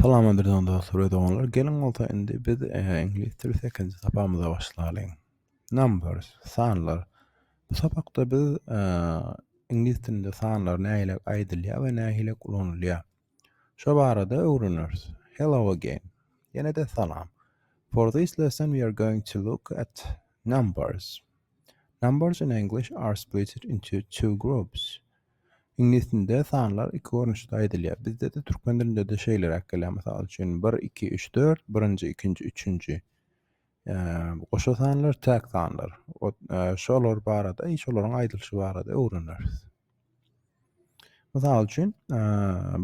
Salam Adirdan dostlar we doganlar. Geliň bolsa indi biz e, iňlis dili 8-nji sapamyza başlalyň. Numbers, sanlar. Bu sapakda biz e, iňlis dilinde sanlar nähili aýdylýar we nähili ulanylýar. Şo barada öwreneris. Hello again. Ýene-de salam. For this lesson we are going to look at numbers. Numbers in English are split into two groups. Iňlisdinde sanlar iki görnüşde aýdylýar. Bizde-de türkmen dilinde-de şeýleräk gelýär. Mysal üçin, bir, iki, üç, dört, birinji, ikinji, üçünji. Goşa sanlar, täk sanlar. Şolar barada, şolaryň aýdylyşy barada öwreneris. Mysal üçin,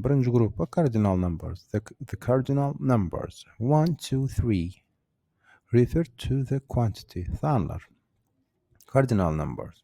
birinji gruppa kardinal numbers, the kardinal numbers. One, two, three. Refer to the quantity. Sanlar. Kardinal numbers.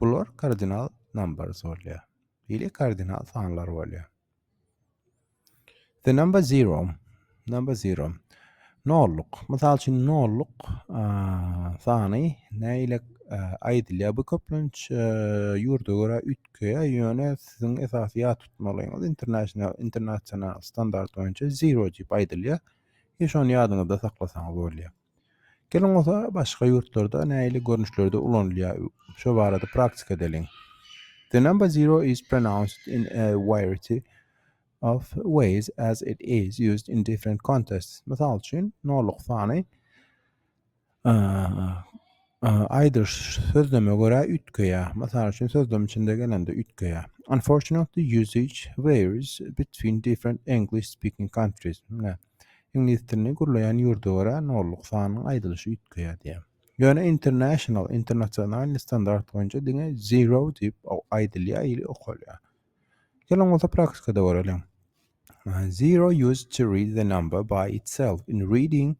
Bular kardinal numbers bolýar. Ili kardinal sanlar bolýar. The number zero. Number zero. Nolluk. Mysal üçin nolluk sany näile aýdylýar. Bu köplenç ýurda görä üýtgeýär. Ýöne siziň esasy ýat tutmalyňyz international internasional standart boýunça zero diýip aýdylýar. Ýa şony ýadyňyzda saklasaňyz bolýar. Geliň bolsa başga ýurtlarda nähili görnüşlerde ulanylýar şu barada praktika edeliň. The number zero is pronounced in a variety of ways as it is used in different contexts. Mysal üçin, noluk sany aýdyş sözleme görä üýtgeýär. Mysal üçin, sözlem içinde gelende üýtgeýär. Unfortunately, usage varies between different English-speaking countries. Iňlis dilini gürleýän ýurda görä nolluk sanynyň aýdylyşy üýtgeýär diýýär. Ýöne international, internasionalny standart boýunça diňe zero diýip aýdylýar ili okalýar. Geliň bolsa praktikada göreliň. Zero used to read the number by itself in reading,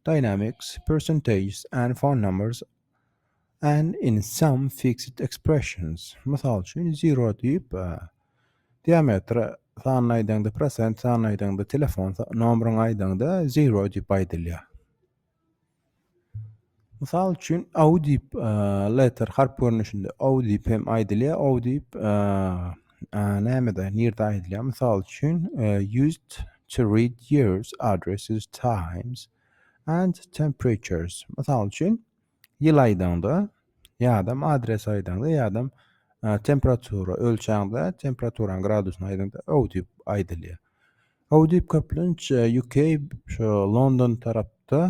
dynamics, percentages and phone numbers And in some fixed expressions, mysal üçin, zero diýip, diametr sanyny aýdaňda, prosent sanyny aýdaňda, telefon nomeryny aýdaňda zero diýip aýdylýar. Mysal üçin, au diýip, letter harp görnüşinde au diýip hem aýdylýar, au diýip, nämede, nirde aýdylýar? Mysal üçin, used to read years, addresses, times. and temperatures mysal üçin ýyl aýdaňda ýadam adres aýdaňda ýadam temperatura ölçäňde temperaturan gradusyny aýdaňda o diýip aýdylýar o diýip köplenç uk şu london tarapda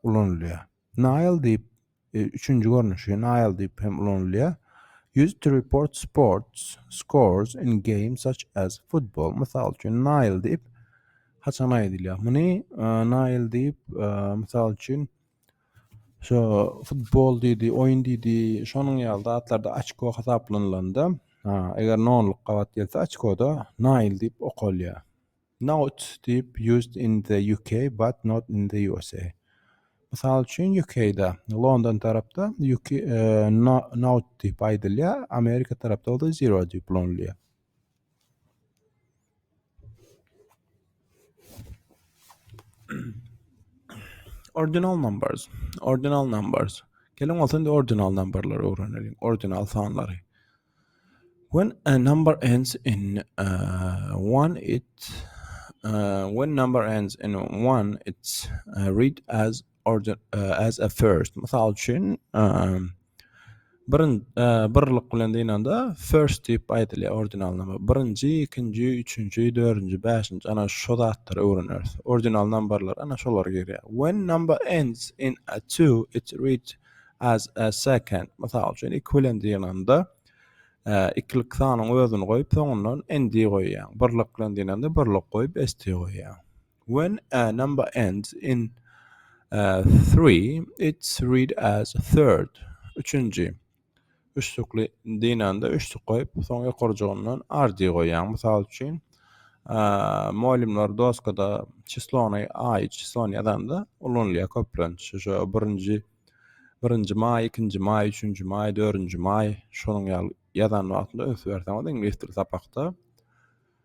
ulanylýar Nile diýip, e, üçünji görnüşi Nile diýip hem ulanylýar. Used to report sports scores in games such as football. Mysal üçin Nile diýip haçan aýdylýar? Muny e, Nile diýip e, mysal üçin şu futbol diýdi, oýun diýdi, şonuň ýaly zatlarda açko hasaplanylanda, eger nonluk gabat gelse açkoda Nile diýip okalýar. Note, diýip, used in the UK, but not in the USA. Mysal üçin, UK-da, London tarapda UK, no, note diýip aýdylýar, Amerika tarapda bolsa zero diýip ulanylýar. Ordinal numbers, ordinal numbers. Geliň bolsa indi ordinal numberleri öwrenelim, ordinal sanlary. When a number ends in uh, one, it uh, when number ends in one, it's uh, read as order uh, as a first. Mysal üçin, uh, birin uh, birlik bilen dynanda first diýip aýdylýar ordinal number. Birinji, ikinji, üçünji, dördünji, bäşinji ana şu zatlary öwreneris. Ordinal numberlar ana şolar girýär. When number ends in a two, it reads As a second, mysal üçin, iki bilen dynanda, ikilik sanyň özüni goýup, soňundan nd goýýaň. Birlik bilen dynanda, birlik goýup, st goýýaň. When a number ends in three, it's read as third. Üçünji. Üçlükli dynanda üçlük goýup, soň ýokarjygyndan ardy goýýaň. Mysal üçin, molimler doskada çislony aý, çislony ýazanda ulanylýar köplenç. Şo birinji birinji maý, ikinji maý, üçünji maý, dördünji maý şonuň ýaly ýazan wagtynda üns berseňiz iňlis dili sapakda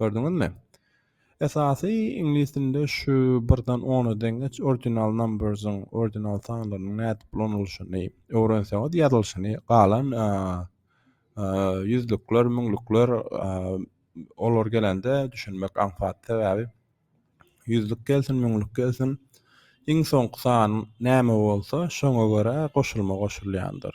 Gördüňizmi? Esasy iňlis dilinde şu birden ona deňeç ordinal numbers-iň, ordinal sanlarynyň nädip ulanylyşyny öwrenseňiz, ýazylyşyny, galan ýüzlükler, müňlükler olar gelende düşünmek aňsat. Sebäbi ýüzlük gelsin, müňlük gelsin, iň soňky san näme bolsa, şoňa görä goşulma goşulýandyr.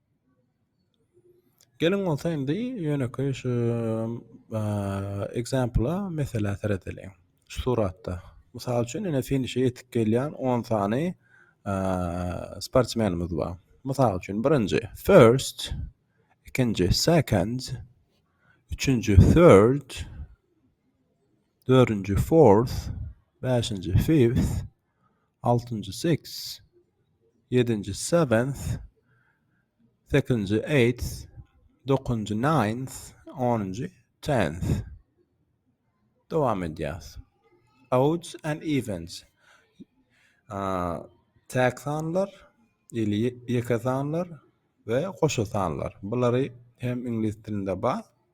Geliň bolsa indi ýönekeý şu ekzempla, meselä seredeliň. Şu suratda, mysal üçin, ine finişe ýetip gelýän on sany sportsmenimiz bar. Mysal üçin, birinji, first, ikinji, second, üçünji, third, dördünji, fourth, bäşinji, fifth, altynjy six ýedinji seventh sekizinji eighth dokuzynjy ninth onunjy tenth dowam edýäs odds and evens täk sanlar ili ýeke sanlar we goşa sanlar bulary hem iňlis dilinde bar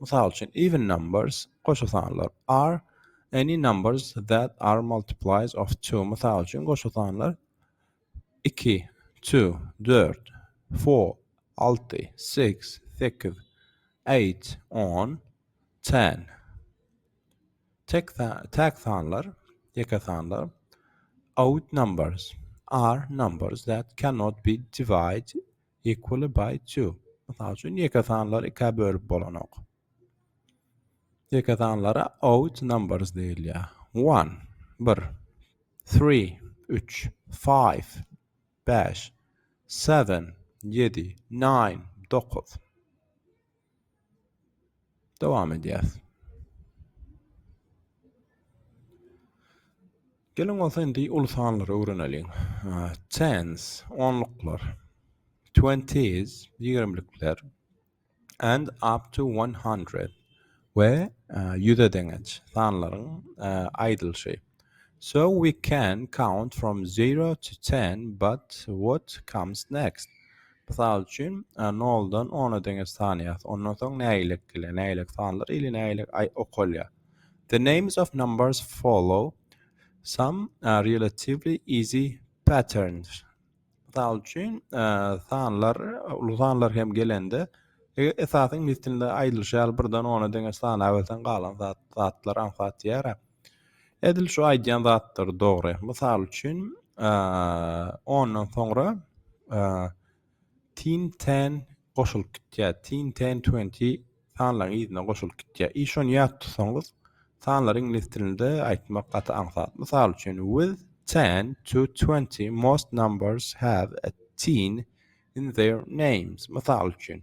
Mysal üçin, even numbers, goşa sanlar, are any numbers that are multiplies of two, mysal üçin, goşa sanlar, iki, two, dört, four, alty, six, sekiz, eight, on, ten. Tek, tek sanlar, ýeke sanlar, odd numbers, are numbers that cannot be divided Equally by two. Mysal üçin, ýeke sanlary ikä bölüp bolanok. Ýeke sanlara odd numbers diýilýär. One, bir. Three, üç. Five, bäş. Seven, ýedi. Nine, dokuz. Dowam edýäris. Geliň bolsa indi uly sanlary öwreneliň. Tens, onluklar. Twenties, ýigrimlikler. And up to one hundred. We ýüze deňeç sanlaryň aýdylşy. So we can count from zero to ten, but what comes next? Mysal üçin, noldan ona deňeç sanaýas. Ondan soň nägilek gelýär. Nägilek sanlar ili nägilek aý okalýar. The names of numbers follow some relatively easy patterns. Mysal üçin, sanlar, uly sanlar hem gelende, e, esasyň mislinde aýdylyşy ýaly birden ona deňeç sanaberseň galan zat zatlar aňsat ýara. Edil şu aýdýan zatlary dogry. Mysal üçin, ondan soňra Tin Ten goşulyp gitýär. Tin Ten Twenty sanlaryň yzyna goşulyp gitýär. I şony ýat tutsaňyz, sanlary iňlis dilinde aýtmak gaty aňsat. Mysal üçin, with ten to twenty most numbers have a tin in their names. Mysal üçin,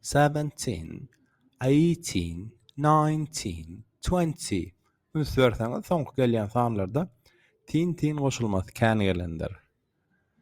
Seventeen, eighteen, nineteen, twenty, üns berseňiz soňky gelýän sanlarda tin-tin goşulmasy kän gelendir.